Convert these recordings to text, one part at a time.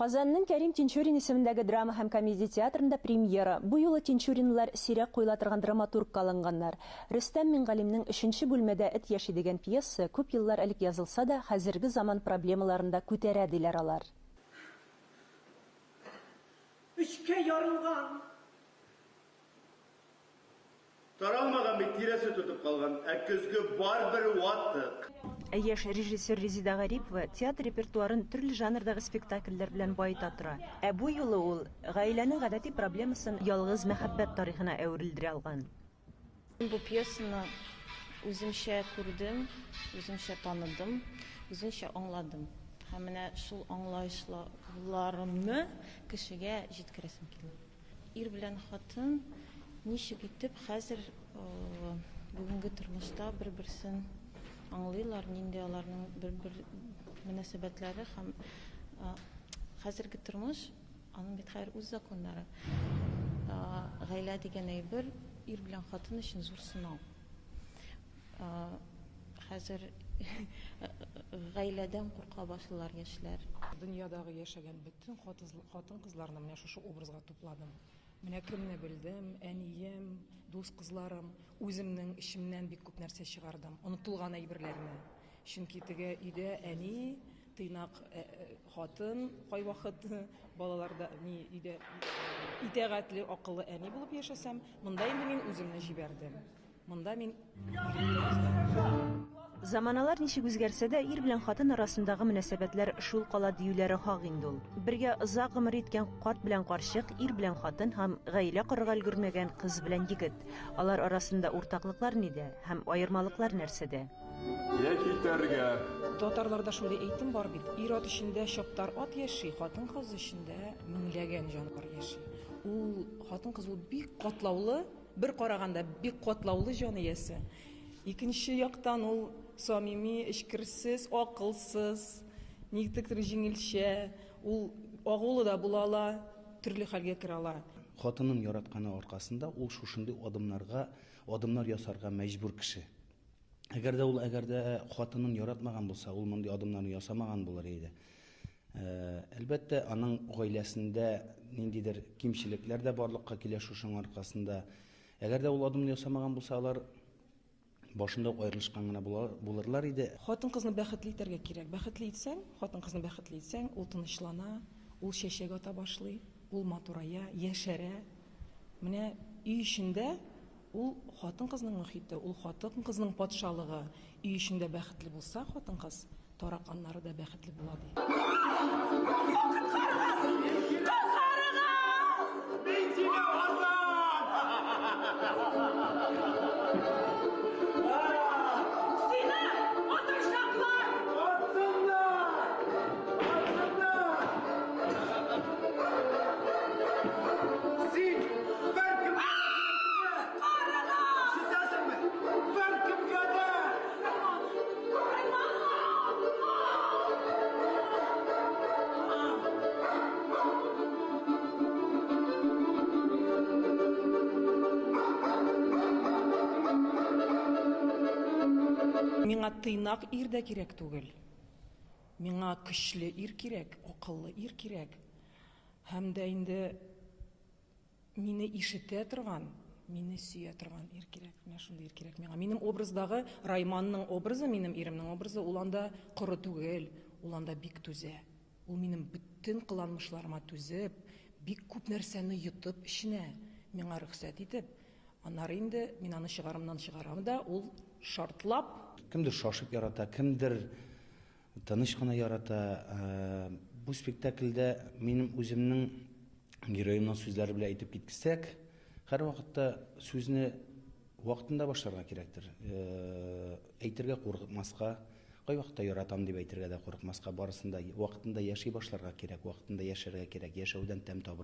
Казанның Кәрим Тинчурин исемендәге драма һәм комедия театрында премьера. Бу юлы Тинчуринлар сирәк куела торган драматургка алынганнар. Рөстәм Мингалимнең Өченче бүлмәдә эт яши дигән пьеса күп еллар элек язылса да, хәзерге заман проблемаларын да күтәрә, диләр алар. Өчкә ярылган. Таралмаган бит, тирәсе тотып калган, ә көзге барбер ватык. Ә яшь режиссер Резида Гарипова театр репертуарын төрле жанрдагы спектакльләр белән баета тора. Ә бу юлы ул гаиләнең гадәти проблемасын ялгыз мәхәббәт тарихына әверелдерә алган. Мин бу пьесаны үземчә күрдем, үземчә таныдым, үземчә аңладым. Һәм менә шул аңлаешларымны кешегә җиткерәсем килә. Ир белән хатын ничек итеп хәзер бүгенге тормышта бер-берсен аңлыйлар, нинди аларның бер-бер мөнәсәбәтләре һәм хәзерге тормыш, аның бит хәер үз законнары. Гаилә дигән әйбер ир белән хатын өчен зур сынау. Хәзер гаиләдән курка башлыйлар яшьләр. Дөньядагы яшәгән бөтен хатын-кызларны менә шушы образга тупладым. Менә кемне белдем, әнием, дус кызларым, үземнең эчемнән бик күп нәрсә чыгардым, онытылган әйберләрне. Чөнки теге өйдә әни, тыйнак хатын кайвакыт, балалар да ни өйдә итәгатьле, акыллы әни булып яшәсәм, монда инде мин үземне җибәрдем. Монда мин. Заманалар ничек үзгәрсә дә, ир белән хатын арасындагы мөнәсәбәтләр шул кала диюләре хак инде ул. Бергә озак гомер иткән карт белән карчык, ир белән хатын һәм гаилә корырга өлгермәгән кыз белән егет. Алар арасында уртаклыклар нидә һәм аермалыклар нәрсәдә? Я китәргә. Татарларда шундый әйтем бар бит, ир-ат эчендә чаптар ат яши, хатын-кыз эчендә меңләгән җанвар яши. Ул хатын-кыз ул бик катлаулы Бер караганда бик катлаулы җан иясе. Икенче яктан ул самими, эчкерсез, акылсыз, никтектер җиңелчә, ул агулы да була ала, төрле хәлгә керә ала. Хатынын яратканы аркасында ул шушындый адымнарга адымнар ясарга мәҗбүр кеше. Әгәр дә ул әгәр дә хатынын яратмаган булса, ул мондый адымнарны ясамаган булыр иде. Әлбәттә, аның гаиләсендә ниндидер кимчелекләр дә барлыкка килә шушының аркасында. Әгәр дә ул адымны ясамаган булса, алар башында ук аерылышкан гына булырлар иде. Хатын-кызны бәхетле итәргә кирәк. Бәхетле итсәң, хатын-кызны бәхетле итсәң, ул тынычлана, ул чәчәк ата башлый, ул матурая, яшәрә. Менә өй эчендә Ул хатын-кызның мохите, ул хатын-кызның патшалыгы. Өй эчендә бәхетле булса хатын-кыз, тараканнары да бәхетле була, ди. Миңа тыйнак ир дә кирәк түгел. Миңа көчле ир кирәк, акыллы ир кирәк. Һәм дә инде мине ишетә торган, мине сөя торган ир кирәк. Менә шундый ир кирәк миңа. Минем образдагы Райманның образы, минем иремнең образы, ул анда коры түгел, ул анда бик түзә. Ул минем бөтен кыланмышларыма түзеп, бик күп нәрсәне йотып эченә, миңа рөхсәт итеп, аннары инде мин аны чыгарымнан чыгарам да, ул шартлап. Кемдер шашып ярата, кемдер Тыныч кына ярата. Бу спектакльдә минем үземнең героемның сүзләре белән әйтеп киткесәк, һәрвакытта сүзне вакытында башларга кирәктер. Әйтергә курыкмаска, кайвакытта яратам дип әйтергә дә курыкмаска, барысын да вакытында яши башларга кирәк, вакытында яшәргә кирәк, яшәүдән тәм табарга.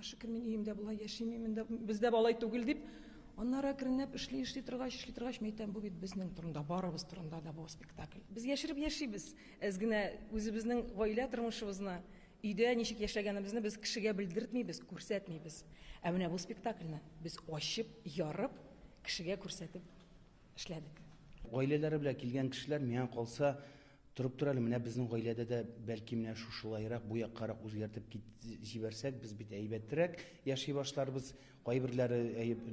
Шөкер, мин өемдә болай яшим, мин монда бездә балай түгел дип, аннары әкренләп эшли, эшли торгач, эшли торгач, мин әйтәм, бу бит безнең турында, барыбыз турында да бу спектакль. Без яшереп яшибез, әз генә үзебезнең гаилә тормышыбызны, өйдә ничек яшәгәнебезне без кешегә белдертмибез, күрсәтмибез. Ә менә бу спектакльне без ачып, ярып, кешегә күрсәтеп эшләдек. Гаиләләре белән килгән кешеләр, миңа калса, Торып тор әле, менә безнең гаиләдә дә бәлки менә шушылаерак, бу яккарак үзгәртеп кит җибәрсәк, без бит әйбәтрәк яши башларбыз, кайберләре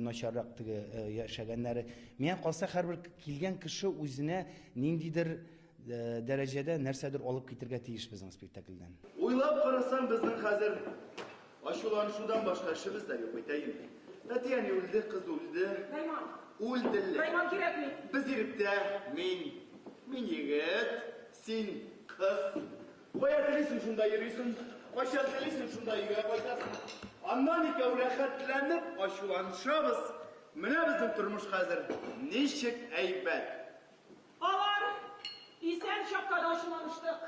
начаррак теге яшәгәннәре. Миңа калса, һәрбер килгән кеше үзенә ниндидер дәрәҗәдә нәрсәдер алып китергә тиеш безнең спектакльдән. Уйлап карасаң, безнең хәзер Ачуланышудан башка эшебез дә юк бит, әйеме? Әти-әни үлде, кыз үлде. Найман. Үлделәр. Найман кирәкми. Без иректә, мин, мин егет, син кыз. Кая телисең, шунда йөрисең, кайчан телисең, шунда өйгә кайтасың. Аннан икәү рәхәтләнеп ачуланышабыз. Менә безнең тормыш хәзер ничек әйбәт. Алар исән чакта да ачуланыштык.